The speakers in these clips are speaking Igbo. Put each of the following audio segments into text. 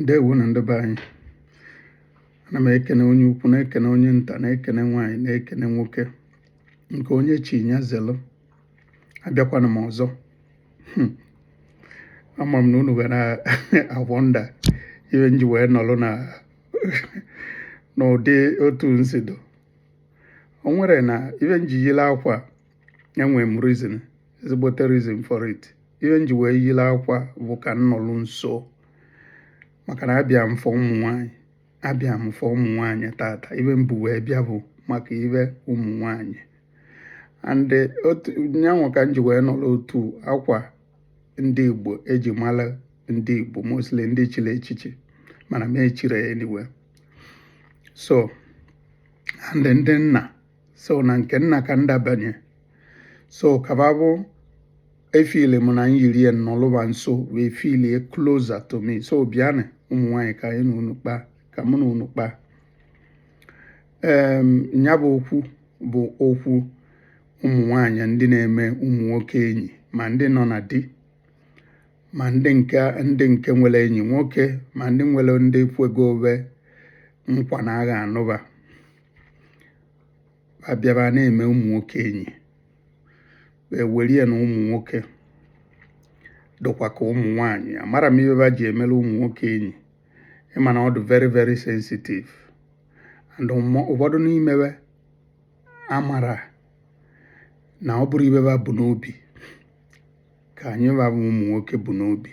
ndewonu ndị be anyị ana m ekene onye ukwu na-ekene onye nta na-ekene nwaanyị na-ekene nwoke nke onye chi nya zelu abịakwana m ọzọ hmm. ama m na unu ga na-awonder ibe nji wee nọrọ n'ụdị otu nsi dụ o nwere na ibe nji yile akwa enwere m reason ezigbote reason for it ihe nji wee yiri akwa bụ ka nnọlụ nso maka na abịa m for ụmụ nwanyị abịa m for ụmụ nwanyị tata ibe m bu wee bịa bụ maka ibe ụmụ nwanyị and otu nyanwa ka m ji wee nọrọ otu akwa ndị Igbo eji mara ndị Igbo mostly ndị chiri echichi mana m echire anyway so and ndị nna so na nke nna ka ndabanye so ka ba bụ efeel m na nyiri ya nọlụ ba nso wee feel closer to me so bịanụ ụmụ nwaanyị ka anyị na unu kpaa ka mụ na unu kpaa ee ya bụ okwu bụ okwu ụmụ nwanyị ndị na-eme ụmụ nwoke enyi ma ndị nọ na di ma ndị nke ndị nke nwere enyi nwoke ma ndị nwere ndị kwego be nkwa na a ga-anụ ba abịa ba na-eme ụmụ nwoke enyi ewere ya na ụmụ nwoke dịkwa ka ụmụ nwanyị amara m ibe ba ji emere ụmụ nwoke enyi ịma na ọ dị very very sensitive and ụfọdụ n'ime be amara na ọ bụrụ ibe ba bu n'obi ka anyị ba bụ ụmụ nwoke bu n'obi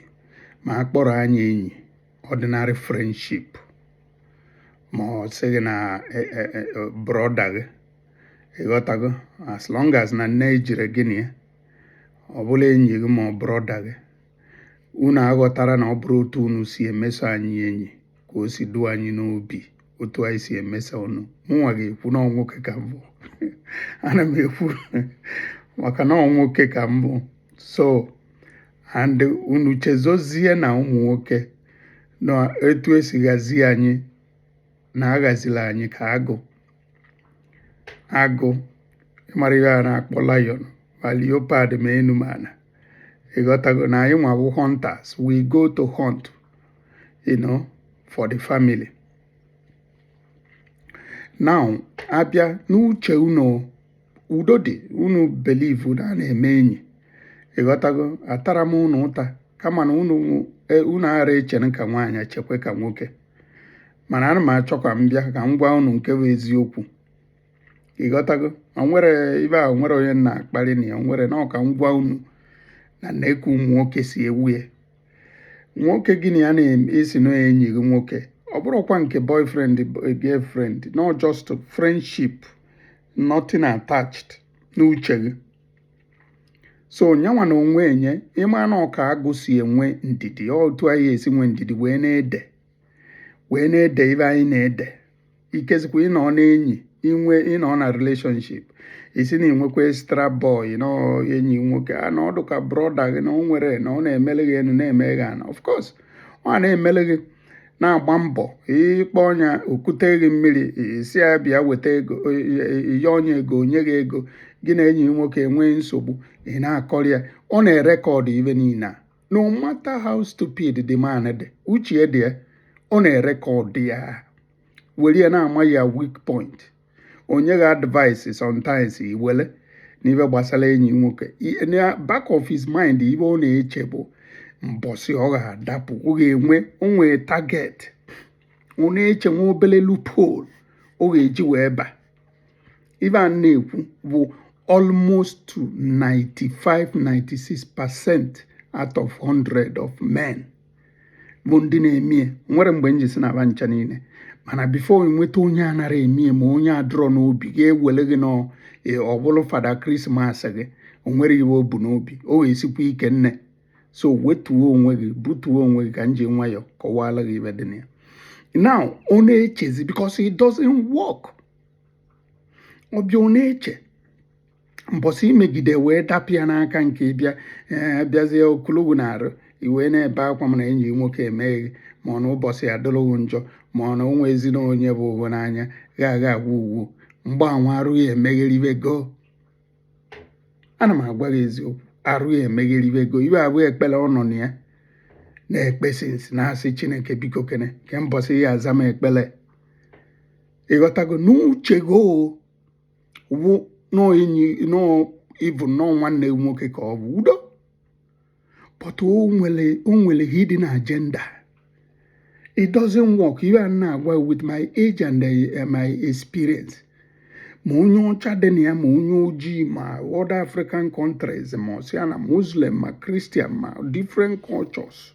ma a kpọrọ anyị enyi ordinary friendship ma ọ sị gị na e, e, e, brother gị ịghọtago as long as na nne ejire gị na ya ọ bụla enyi gị ma ọ brother gị unu aghọtara na ọ bụrụ otu unu si emeso anyị enyi ka o si dụ anyị n'obi otu anyị si emeso unu mụnwa ga-ekwu na ọ nwoke ka m bụ ana m ekwu maka na nwoke ka m bụ so and unu chezozie na ụmụ nwoke na etu esi ghazi anyị na aghazila anyị ka agụ agụ ịmara ihe a na-akpọ lion ma leopard ma enu ma ana ịghọtago na anyị nwa bụ hunters we go to hunt you know for the family now abịa n'uche unu udo dị unu believe na a na-eme enyi ị ghọtago atarọ m unu ụta kama na unu e, unu ara echere ka nwaanyị chekwe ka nwoke mana ana m achọ ka m bịa ka m gwa unu nke bụ eziokwu ị ghọtago ma nwere ife ahụ nwere onye na-akparị na ya nwere na ọ ka m gwa unu na na-eku ụmụ nwoke si ewu ya nwoke gị na ya na-asị na enyi gị nwoke ọ bụrọkwa nke boyfriend girlfriend no just friendship nothing attached n'uche gị so nyanwa na onwe nya ị ma na ọ ka agụ si enwe ndidi otu anyị esi nwe ndidi wee na-ede wee na-ede ife anyị na-ede ikezikwa ịnọ n'enyi inwe ịnọ na relationship ị sị na i nwekwa extra boy na enyi nwoke a na ọ dụ ka broda gị na o nwere na ọ na-emele gị enu na-eme gị ana of course ọ na-emele gị na-agba mbọ ị kpọọ nya o kute gị mmiri ị sị ya bịa weta ego ihe o nye ego o nye gị ego gị na enyi nwoke enwee nsogbu ị na-akọrọ ya ọ na-erecord ife niile a no matter how stupid the man dị uche dị ya ọ na-erecord ya were ya na-ama your weak point o nye gị advice sometimes i wele n'ife gbasara enyi nwoke na back of his mind ife ọ na-eche bụ mbọsị ọ ga-adapụ ọ ga-enwe o nwe target ọ na-eche nwa obele loophole ọ ga-eji wee ba ife a na-ekwu bụ almost to 95 96 percent out of 100 of men bụ ndị na-emie o nwerọ mgbe m ji sị na ba ncha niile mana before i nweta onye anara emie ma onye adụrọ n'obi ga-ewere gị na e, ọ bụrụ father christmas gị o nwere ife o bu n'obi o wee sikwa ike nne so wetuo onwe gị butuo onwe gị ka m ji nwayọọ kọwaala gị ife dị na ya now ọ na-echezi because it doesn't work ọ bịa ọ na-eche mbọsị i megide wee dapịa n'aka nke ị bịa eh, bịazie okolowu na arụ i wee na-ebe akwa mana enyi nwoke emeghị ma ọ na ụbọchị adịrị gị njọ ma ọ na onwe ezinụlọ onye bụ ụgwọ n'anya gha agha agwa ugwu mgbanwe arụ gị emegheribe go ana m agwa gị eziokwu arụ gị emegheribe go ife a bụ ekpere ọ nọ na ya na-ekpe since na-asị chineke biko kene ke mbọsị ya aza m ekpere ị ghọtago n'uche gị wụ n'enyi na even na nwanne nwoke ka ọ bụ udo but o nwere o nwere hidden agenda it doesn't work ife a na-agwa with my age and uh, my experience ma onye ọcha dị na ya ma onye ojii ma other african countries ma asia na muslim ma christian ma different cultures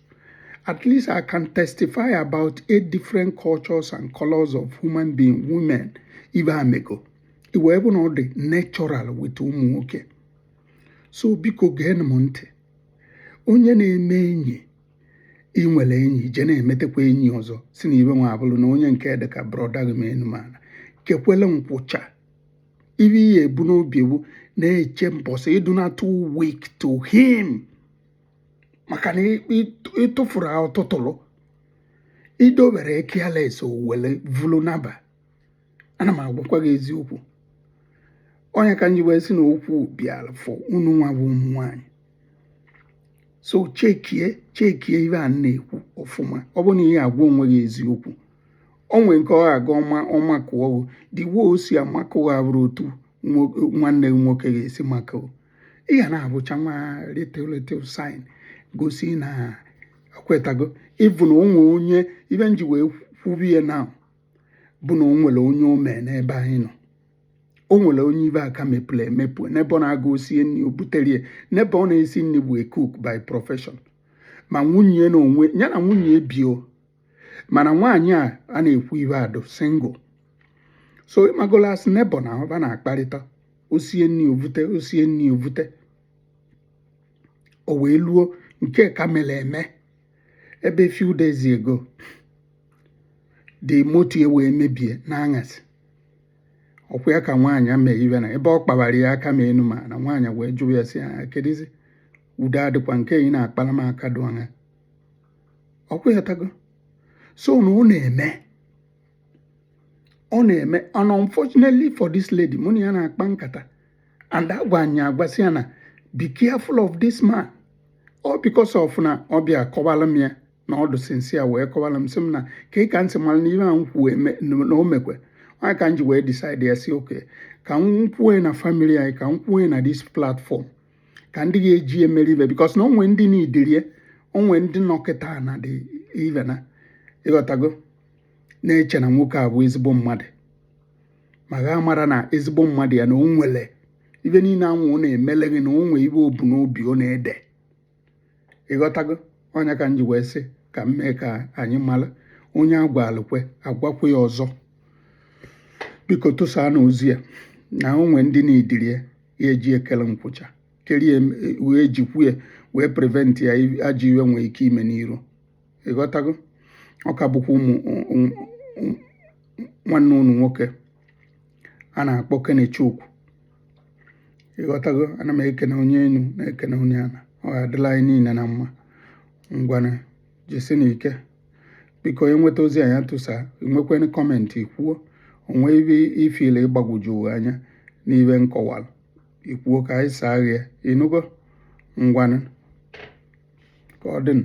At least I can testify about eight different cultures and colors of human being, women, ibe a mego. Ibe bụ na ọ dị natural with ụmụ nwoke. So biko gee m ntị. Onye na-eme enyi ị nwere enyi je na-emetekwa enyi ọzọ sị na ibe nwa abụrụ na onye nke dị ka brother gị ma enu ma ana kekwele nkwụcha ibe ihe e bu n'obi bụ na-eche mbọsị ị dụ na too weak to him maka na ị tụfuru ọ tụtụrụ i dowere careless o wele vulu naba ana m agwakwa gị eziokwu ọ nya ka m ji wee sị na okwu bịara for unu nwa bụ ụmụ nwanyị so chekie chekie ibe a na-ekwu ọfụma ọ bụ na ị ya-agwa onwe gị eziokwu o nwe nke ọ ga ọma makụọ the way o si amakụ gị abụrọ otu nwanne gị nwoke ga-esi makụ ị ga na-abụcha nwa little sign gosi na kwetago ị bụ na o nwe onye ibe m ji wee kwube ya na bụ na o nwere onye o me n'ebe anyị nọ o nwere onye ibe a ka mepụrụ emepụ n'ebe ọ na-aga o sie nri o butere ya n'ebe ọ na-esi nri bụ cook by profession ma nwunye na onwe ya na nwunye bi o mana nwaanyị a a na-ekwu ibe ya dụ single so ị mago as neighbour na ọba na-akparịta o sie nri o vute o sie nri o vute o wee luo nke ka mere eme ebe few days ago the motor ya wee mebie n'aṅasị ọ kwa ya ka nwaanyị a mee ibe na ebe ọ kpawara ya aka ma enu ma ana nwaanyị wee jụa ya sị ya kedụzi udo adịkwa nke ị na-akpara m aka dụ anya ọ kwa ị ghọtago so na ọ na-eme ọ na-eme and unfortunately for this lady mụ na ya na-akpa nkata and agwa ya agwa sị ya na be careful of this man ọ because of na ọ bịa kọwara m ya na ọ dụ since ya wee kọwara m sị m na ka ị ka ntị mara na ihe a m kwuo na o mekwe ọ nya ka m ji wee decide ya sị okay ka m kwue na family anyị ka m kwue na this platform ka ndị ga-eji ya mụrụ ibe because na o nwe ndị n'ụdịrị ya o nwe ndị nọ kịta n'ụdị ibe na ị ghọtago na-eche na nwoke a bụ ezigbo mmadụ ma gị amara na ezigbo mmadụ ya na o nwere ibe niile anwụ ọ na-emele gị na o nwee ibe o bu n'obi ọ na-ede ị ghọtago ọ nya ka m ji wee sị ka m mee ka anyị mara onye a gwalụ o kwe a gwakwe ya ọzọ biko tụsaanụ ozi a na o nwee ndị n'ụdịrị ya ya-eji ekele nkwụcha kerie wee jikwu ya wee prevent ya ajọ ibe nwee ike ime n'iru ịghọtago ọ ka bụkwa nwanne unu nwoke a na-akpọ Kenechukwu ịghọtago ana m ekene onye enu na-ekene onye ana ọ ga-adịlị anyị niile na mma ngwana jisinụ ike biko i nweta ozi anyị tụsaa i nwekwanụ comment i kwuo o nwee ibe i feel ịgbagwoju anya n'ibe m kọwalụ i kwuo ka anyị saa ghị ịnụgo ngwanụ ka ọ dịnụ